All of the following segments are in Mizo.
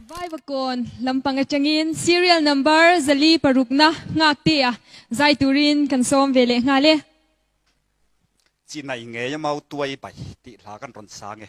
Vaivakawn lam pang atangin serial number zali parukna nghak te a zai turin kan sawm ve leh nghal e. Chi nai ngei a mau tuai bai tih hla kan rawn sang e.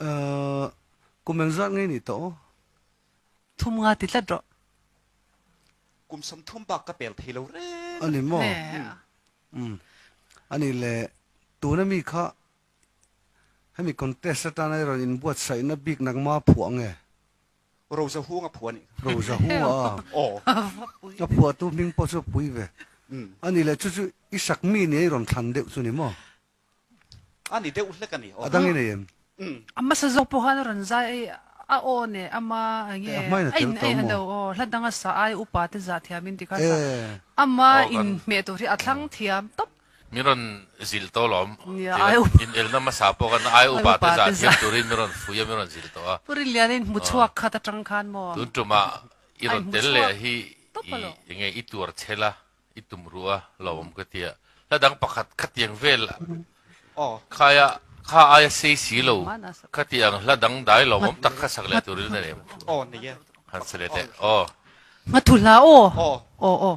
Ahh kumel zat ngei ni tawh aw. Thum nga ti tlat rawh. Kum sawm thum bak ka pel thei lo reng. A ni maw? Umm a ni le. Tuna mi kha hemi contest atana i rawn inbuatsaihna biknak ma phuah nge? Roza Huang a phua ni? Roza Huang a aw. A phua tu hming pawh chu Pui ve a ni le, chu chu i sak mi ni a i rawn thlan deuh chu ni maw? A ni deuh hlek a ni. A dang i nei em? A hmasa zawk pawh khan a rawn zai a i a aw neh a ma enge? A hmain a tel tawh maw? Aw, hla dang a sa ai, upa te zah thiam in ti kha a sa. A ma inhmeh tur hi a thlang thiam tawp. Min rawn zil tawh lawm. Nia, ai up. In el na hmasa pawh khan ai upa te zah thiam turin min rawn fuih a, min rawn zil tawh a. Pu Rinliana in hmu chhuak khat atang khan maw? Tun tumah i rawn tel leh a hi i enge i tuar chhel a, i tum ruh a lawm ka ti a. Hla dang pakhat khatiang vel khaia kha ai a sei si lo ka ti ang, hla dang dai lawmawm tak kha sak leh turin a nem. Han sa let e. Aw. Hma thu hlah aw. Aw aw.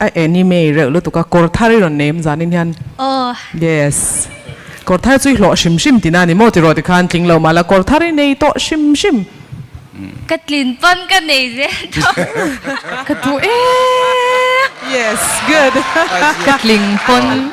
A anime reuh lutuk a, kawr thar i rawn nei em zanin hian. Aww. Yes. Kawr thar chu i hlawh hrim hrim tina ni maw tiraw tikhan tling lo mala kawr thar i nei tawh hrim hrim. Ka tlin pawn ka nei zel tawh. Ka duh em. Yes, good. Ka tling pawn.